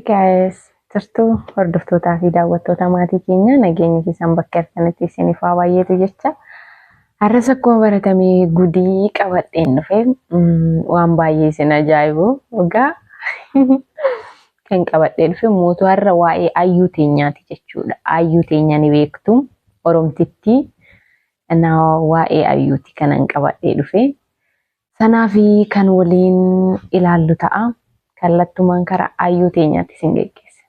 Guys, jirtu hordoftootaa fi daawwattoota maatii keenya nageenyi keessan bakka argitanitti isiniif haa baay'eetu jecha. Har'as akkuma baratame gudii qabadheen dhufe mm, waan baay'ee isin ajaa'ibu dhugaa kan qabadhee dhufe mootu har'a waa'ee ayyuu teenyaati jechuudha. Ayyuu teenya ni beektu Oromtittii na waa'ee ayyuuti kanan qabadhee dhufe. Sanaa fi kan waliin ilaallu ta'a. Kallattumaan kara ayyuu teenyaatti isin geggeessina.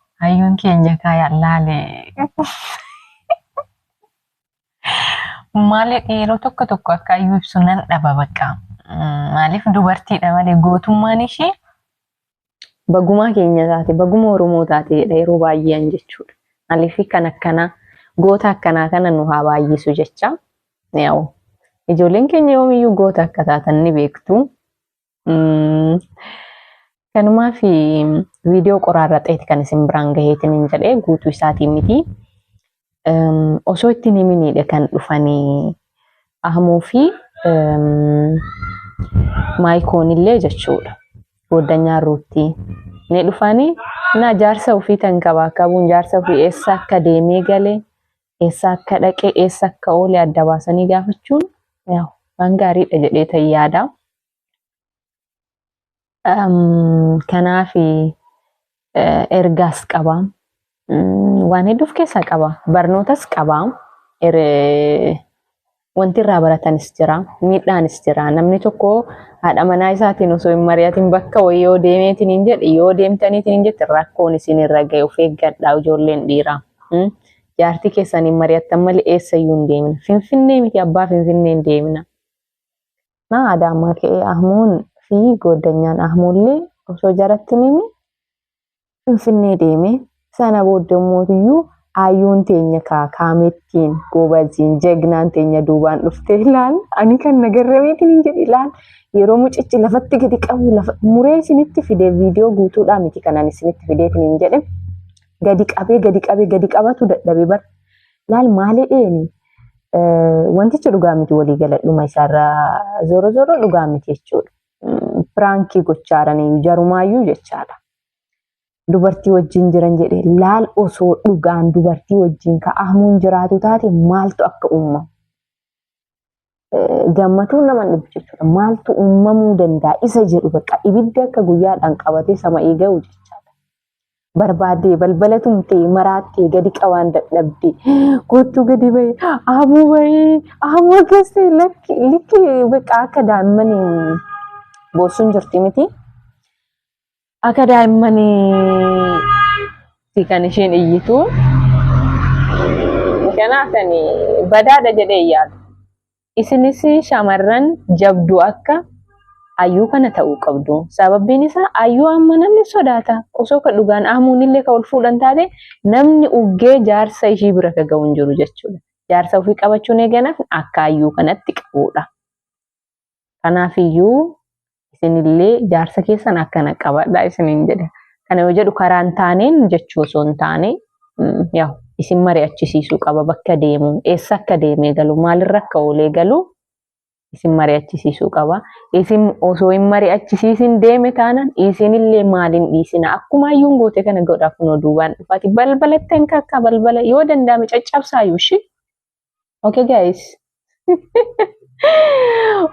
Hayyuun keenya kaa yallaale. Maaliif yeroo tokko tokko akka hayyuu ibsu nan dhaba bakka. Maaliif dubartiidha malee gootummaan ishee bagumaa keenya taate baguma Oromoo taate jedha yeroo baay'een jechuudha. Maaliif kan akkanaa goota akkanaa kana nu haa baay'isu jecha. Yaa'u ijoolleen keenya yoomiyyuu goota akka taatan ni beektu. Mm. Kanumaa fi viidiyoo qoraarra ta'eeti kan isin biraan gaheetiin hin jedhee guutuu isaatiin miti. Em, Osoo ittiin himiniidha kan dhufanii Ahmuu fi em, Maayikoon illee jechuudha. Goddanyaa Ruutti ni dhufanii na jaarsa ofii tan qabaa qabuun jaarsa ofii eessa akka deemee galee eessa akka dhaqe eessa akka oole adda baasanii gaafachuun waan gaariidha jedhee ta'e yaada. Kanaaf ergaas qaba. Waan hedduuf keessaa qaba. Barnootas qaba. Wanti irraa baratanis jira, miidhaanis jira. Namni tokko haadha manaa isaatiin osoo hin mari'atin bakka wayii yoo deemeetiin hin jedhe, yoo deemtaniitiin hin jette rakkoon isin irra ga'e of eeggadhaa ijoolleen dhiiraa. Mm? Jaartii keessan hin mari'attan malee eessayyuu hin deemina. Finfinnee miti abbaa Finfinnee hin deemina. Na Adaamaa ka'ee Ahmuun fi gooddanyaan Ahmuullee osoo jaratti nimi Finfinnee deeme. Sana booda mootiyyuu ayyuun teenya kaa kaamettiin goobaziin jagnaan teenya duubaan dhuftee ilaal ani kan nagarrameetiin hin jedhe ilaal yeroo mucichi lafatti gadi qabu lafa muree isinitti fide viidiyoo guutuudhaa miti kanan isinitti fideetiin hin jedhe gadi qabee gadi qabee gadi qabatu dadhabe bar ilaal maalee dheeni wantichi dhugaa miti walii galadhuma isaarraa zoro zoro dhugaa miti jechuudha. Piraankii gochaaranii jarumaayyuu jechaadha. dubartii wajjin jiran jedhe laal osoo dhugaan dubartii wajjin ka ahmuun jiraatu taate maaltu akka uumamu. Gammatuu nama dhufu jechuudha. Maaltu uumamuu danda'a isa jedhu bakka ibidda akka guyyaadhaan qabatee sama'ii ga'u jechaadha. Barbaadee balbala tumtee maraattee gadi qabaan dadhabdee kottuu gadi bahee ahmuu bahee ahmuu akkas ta'e lakki likki bakka akka daa'imman boossuun jirti miti. Akka daa'immaniitti kan isheen iyyitu. Kanaaf ani badaadha jedhee hin yaadu. Isinis shamarran jabduu akka ayyuu kana ta'uu qabdu. Sababbiin isaa ayyuu amma namni sodaata. Osoo ka dhugaan aamuun illee ka ol fuudhan taate namni uggee jaarsa ishii bira ka ga'u hin jiru jechuudha. Jaarsa ofii qabachuun eeganaaf akka ayyuu kanatti qabuudha. Kanaaf iyyuu isinillee jaarsa keessan akkana qabadhaa isiniin jedha. Kana yoo jedhu karaa hin taaneen jechuu osoo hin taane yaa isin mari'achisiisuu qaba bakka deemu eessa akka deemee galu maalirra akka oolee galu isin mari'achisiisuu qaba. Isin osoo hin mari'achisiisin deeme taanaan isinillee maaliin dhiisina akkuma ayyuun goote kana godha kunoo duubaan dhufaati balbalattee akka akka balbala yoo danda'ame caccabsaayyuu ishii Okay guys.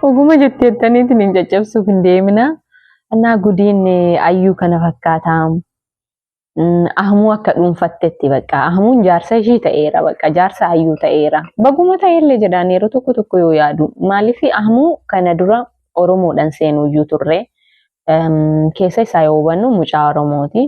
Oguma jettee jettaniitiin hin caccabsuuf hin deemina. Annaa gudiin eh, ayyuu kana fakkaataa. Mm, Ahmuu akka dhuunfattetti bakka. Ahmuun jaarsa ishii ta'eera bakka. Jaarsa ayyuu ta'eera. Baguma ta'ellee jedhaan yeroo tokko tokko yoo yaadu. Maaliif Ahmuu kana dura Oromoodhaan seenuyyuu turre. Em, Keessa isaa yoo hubannu mucaa Oromooti.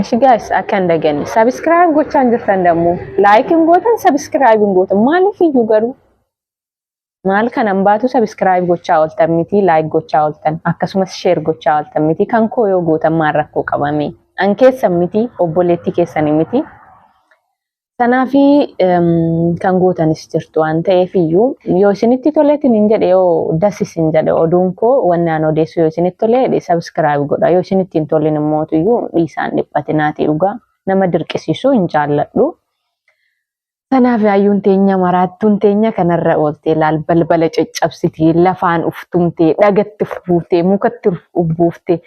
Eshi guys akka hin daganne subscribe gochaa hin jirtan dammoo like hin gootan subscribe hin gootan maaliif iyyuu garuu maal kanan baatu subscribe gochaa ooltan miti like gochaa ooltan akkasumas share gochaa ooltan miti kan koo yoo gootan maal rakkoo qabame an keessan miti obboleettii keessanii miti Sanaafi kan gootanis jirtu waan ta'eef iyyuu yoo isinitti toleetiin hin jedhe yoo das isin jedhe oduun koo wanni aan odeessu yoo isinitti tolee sabiskiraayib godha yoo isinitti hin tolin immoo iyyuu dhiisaan dhiphatinaati dhugaa nama dirqisiisuu hin jaalladhu. Kanaaf hayyuun teenya maraattuun teenya kanarra ooltee laal balbala caccabsitee lafaan uftumtee dhagatti ufbuuftee mukatti ufbuuftee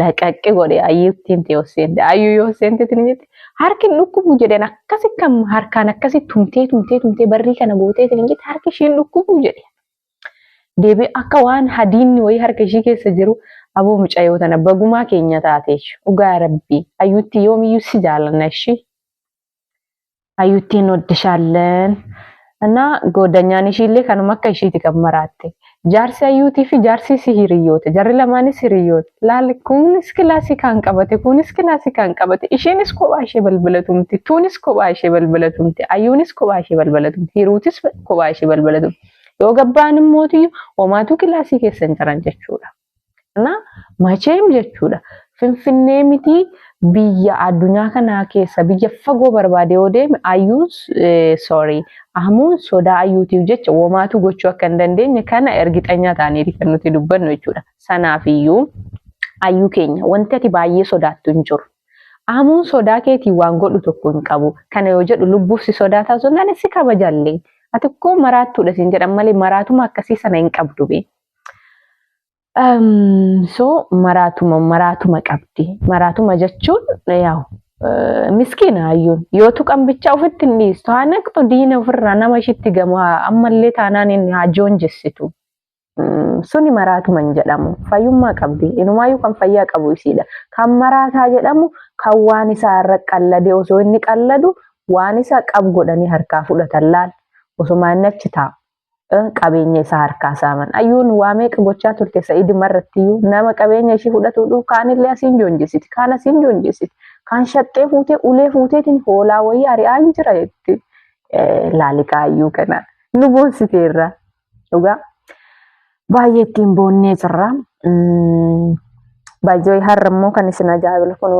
laqaqqi godhe ayyuuttiin tee osseente ayyuu yoo osseente tinimiti harki dhukkubu jedheen akkasi kan harkaan akkasi tumtee tumtee tumtee barrii kana gootee tinimiti harki ishiin dhukkubu jedhe deebi akka waan hadiinni wayii harka ishii keessa jiru aboo mucayyoo tana bagumaa keenya taate dhugaa rabbii ayyuutti yoomiyyuu si jaalanna ishii Hayyuutti hin oddishaalleen. Ana goodanyaan ishiillee kanuma akka ishiiti kan maraatte. Jaarsi hayyuutii fi jaarsi isii hiriyyoota. Jarri lamaanis hiriyyoota. Laal kunis kilaasii kaan qabate kunis kilaasii kaan qabate. Isheenis kophaa ishee balbala tumti. Tuunis kophaa ishee balbala tumti. Hayyuunis kophaa ishee balbala tumti. Hiruutis kophaa ishee balbala tumti. Yoo gabba'an immoo homaatu kilaasii keessa hin jiran jechuudha. Kana macheem jechuudha. Finfinnee miti biyya addunyaa kanaa keessa biyya fagoo barbaade yoo deeme ayyuun sorry ahmuun sodaa ayyuutiif jecha womaatu gochuu akka hin dandeenye kana ergixanyaa taaneeti kan nuti dubbannu jechuudha. Sanaaf iyyuu ayyuu keenya wanti ati baay'ee sodaattu hin jiru. Ahmuun sodaa keetiin waan godhu tokko hin qabu. Kana yoo jedhu lubbuuf si sodaataa osoo hin taane si kabajallee. Ati koo maraattuudha siin jedhan malee maraatuma akkasii sana hin qabdu bee. So maraatuma maraatuma qabdi. Maraatuma jechuun yaa'u miskiina hayyuun yoo tuqan bicha ofitti hin dhiistu haa naqxu diina ofirraa nama ishitti gamu ammallee taanaan inni haa joonjessitu. Suni maraatuma hin jedhamu fayyummaa qabdi inumaayyuu kan fayyaa qabu isiidha. Kan maraataa jedhamu kan waan isaa irra qalladee osoo inni qalladu waan isaa qab godhanii harkaa fudhatan laal osoo inni achi taa'u. qabeenya isaa harkaa saaman. Ayyuun waa meeqa gochaa turte sa'iduma irratti iyyuu nama qabeenya ishii fudhatuu dhufu kaanillee asiin joonjessiti kaan asiin joonjessiti kaan shaxxee fuutee ulee fuuteetiin hoolaa wayii ari'aa hin jira jetti laaliqaa ayyuu kana nu boonsiteerra dhugaa baay'ee ittiin boonnee jirra. Baay'ee har'a immoo kan isin ajaa'ibu kun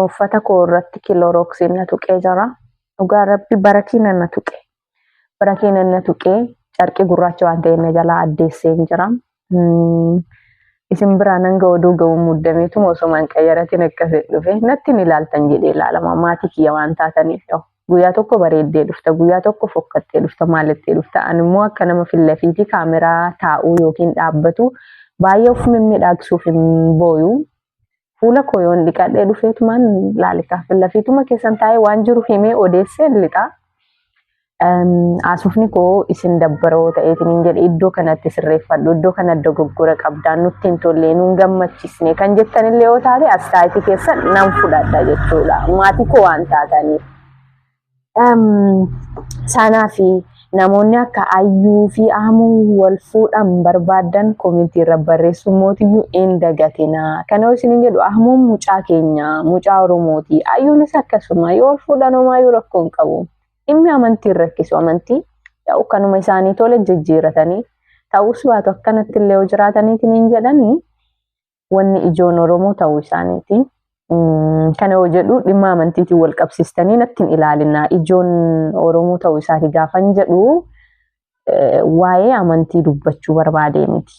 uffata koo irratti kiloorooksiin na tuqee jira. Dhugaa rabbi barakiina na tuqe. bara keenan na tuqee carqii gurraacha waan ta'een na jalaa addeesseen jira. Mm, Isin biraa nan ga'u oduu ga'uun muddameetuma osoo man qayyaratiin akkasii dhufe natti ni ilaaltan jedhee ilaalama maatii kiyya waan taataniif yoo guyyaa tokko bareeddee dhufta guyyaa tokko fokkattee dhufta maalittee dhufta ani immoo akka nama fillafiitii kaameraa taa'uu yookiin dhaabbatu baay'ee of mimmiidhaagsuuf hin booyu fuula koo yoon dhiqadhee dhufeetumaan laalikaa fillafiituma keessan taa'ee waan jiru himee odeessee lixaa. Haasofni koo isin dabbaroo ta'eetiin hin jedhe iddoo kanatti sirreeffadhu iddoo kana dogoggora qabdaan nutti hin tollee nuun gammachiisne kan jettanillee yoo taate astaayitii keessan nan fudhadha jechuudha maatii koo waan taataniif. Saanaa fi namoonni akka Ayyuu fi Aamuu wal fuudhan barbaaddan komentii irra barreessuun mootiyyuu in dagatinaa. Kana yoo isiniin jedhu Ahmuun mucaa keenya, mucaa Oromooti. Ayyuunis akkasuma yoo wal fuudhan homaayyuu rakkoo hin qabu. Dhimmi amantii hin rakkisu amantii. Yaa'u kanuma isaanii tole jijjiiratanii ta'us baatu akkanatti illee yoo jiraataniitiin hin jedhanii wanni ijoon Oromoo ta'uu isaaniiti. Kana yoo jedhu dhimma amantiitiin wal qabsiistanii natti hin ilaalinaa. Ijoon Oromoo ta'uu isaati gaafan jedhu waa'ee amantii dubbachuu barbaadee miti.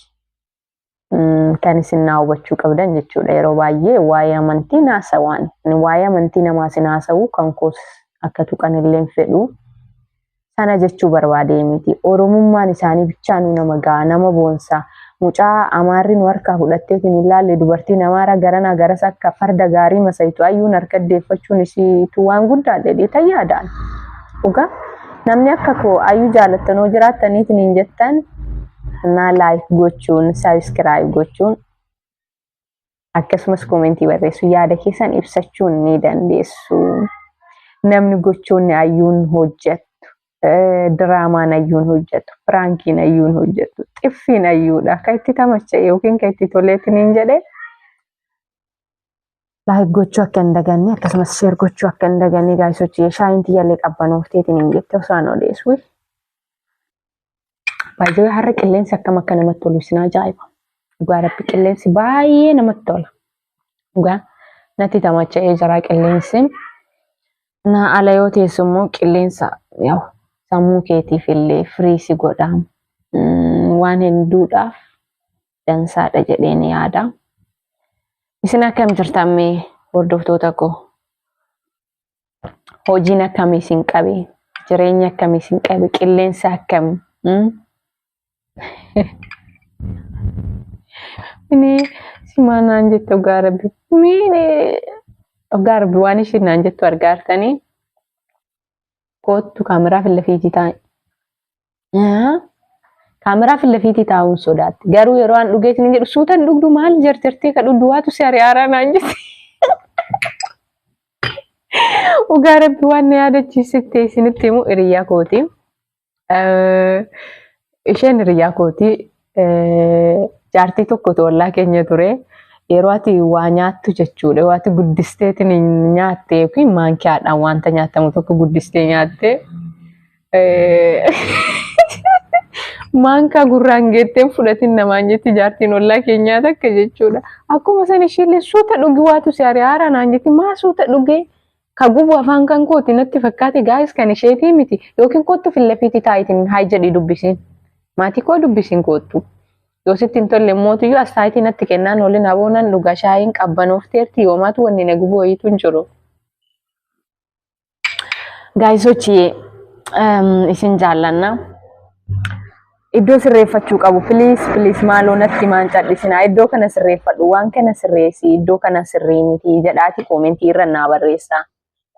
Kan isin naa hubachuu qabdan jechuudha. Yeroo baay'ee waa'ee amantii naasawaan. Waa'ee amantii namaa isin haasa'u kan koos akka tuqan illee hin fedhu. sana jechuu barbaadee miti. Oromummaan isaanii bichaa nu nama ga'a, nama boonsa. Mucaa amaarri nu harkaa fudhatteetiin hin laalle dubartiin amaara garanaa garas akka farda gaarii masaytu ayyuun harka deeffachuun isiitu waan guddaa jedhee tayyaadaan. Dhugaa namni akka koo ayyuu jaalattanoo jiraattaniitiin hin jettan naa laayik gochuun, sabiskiraayib gochuun akkasumas koomentii barreessu yaada keessan ibsachuu ni dandeessu. Namni gochoonni ayyuun hojjettu, eh, diraamaan ayyuun hojjettu, piraankiin ayyuun hojjettu, xiffiin ayyuudha. Kan itti tamacha'e yookiin kan itti toleetti niin jedhe laayik gochuu akka hin daganne akkasumas sheer gochuu akka hin daganne gaayisoochi shaayiin tiyyaallee qabbanooftee niin jette osoo an odeessu. Baay'ee har'a qilleensi akkam akka namatti tolu isin ajaa'iba. Dhugaa rabbi qilleensi baay'ee namatti tola. Dhugaa natti tamacha'ee jira qilleensi. Na ala yoo teessu immoo qilleensa yaa'u sammuu keetiif illee firii si godha. Mm, Waan hedduudhaaf dansaadha jedheen yaada. Isin akkam jirtan mee hordoftoota koo? hojiin akkamii isin qabe jireenya akkamii isin qabe qilleensa akkam mm? ini simaa naan jettu dhugaa rabbi miine dhugaa rabbi waan ishiin naan jettu argaartanii koottu kaameraa filla fiijitaa Kaameraa fi lafiitii taa'uun sodaatti. Garuu yeroo an dhugee isin jedhu suutan dhugdu maal jarjartee kadhu duwaatu si ari'aaraa naan jette. Dhugaa rabbi waan na yaadachiisitte isinitti himu hiriyaa kooti. Isheen hiriyaa kooti. Jaartii tokkotu ollaa keenya ture. Yeroo ati waa nyaattu jechuudha. Yeroo ati guddisteetiin hin nyaatte yookiin maankiyaadhaan wanta nyaatamu tokko guddistee nyaatte. Maankaa gurraan geetteen fudhatiin namaan jetti jaartiin ollaa keenyaa takka jechuudha. Akkuma san ishiillee suuta dhugi waatu si ari'aara naan jetti maa suuta dhugee Ka gubu afaan kan kooti natti fakkaate gaayis kan isheetii miti yookiin koottu fillafiitii taayitiin haay jedhii dubbisiin. Maatii koo dubbisiin koottu. Yoo sitti hin tolle mootiyyuu as taayitii natti kennaan waliin aboonan dhugaa shaayiin qabbanoofteerti yoomaatu wanni na gubu wayiitu hin jiru. Gaayisochiyee isin jaallanna. Iddoo sirreeffachuu qabu please please maaloo natti maan cadhisinaa iddoo kana sirreeffadhu waan kana sirreessi iddoo kana sirrii miti jedhaati koomentii irra naa barreessaa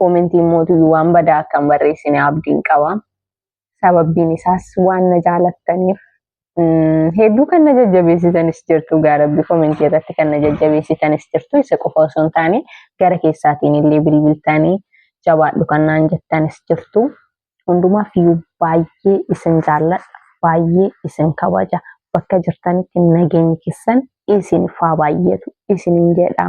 koomentiin mootuyyuu waan badaa akka hin barreessine abdiin qaba sababbiin isaas waan na jaalattaniif mm, hedduu kan na jajjabeessitanis jirtu gaarabbi koomentii irratti kan na jajjabeessitanis jirtu isa qofa osoo hin taane gara keessaatiin illee bilbiltanii jabaadhu kan naan jettanis jirtu Hundumaaf iyyuu baay'ee isin jaalladha, baay'ee isin kabaja. Bakka jirtanitti nageenyi keessan isiniif haa baay'atu isiniin jedha.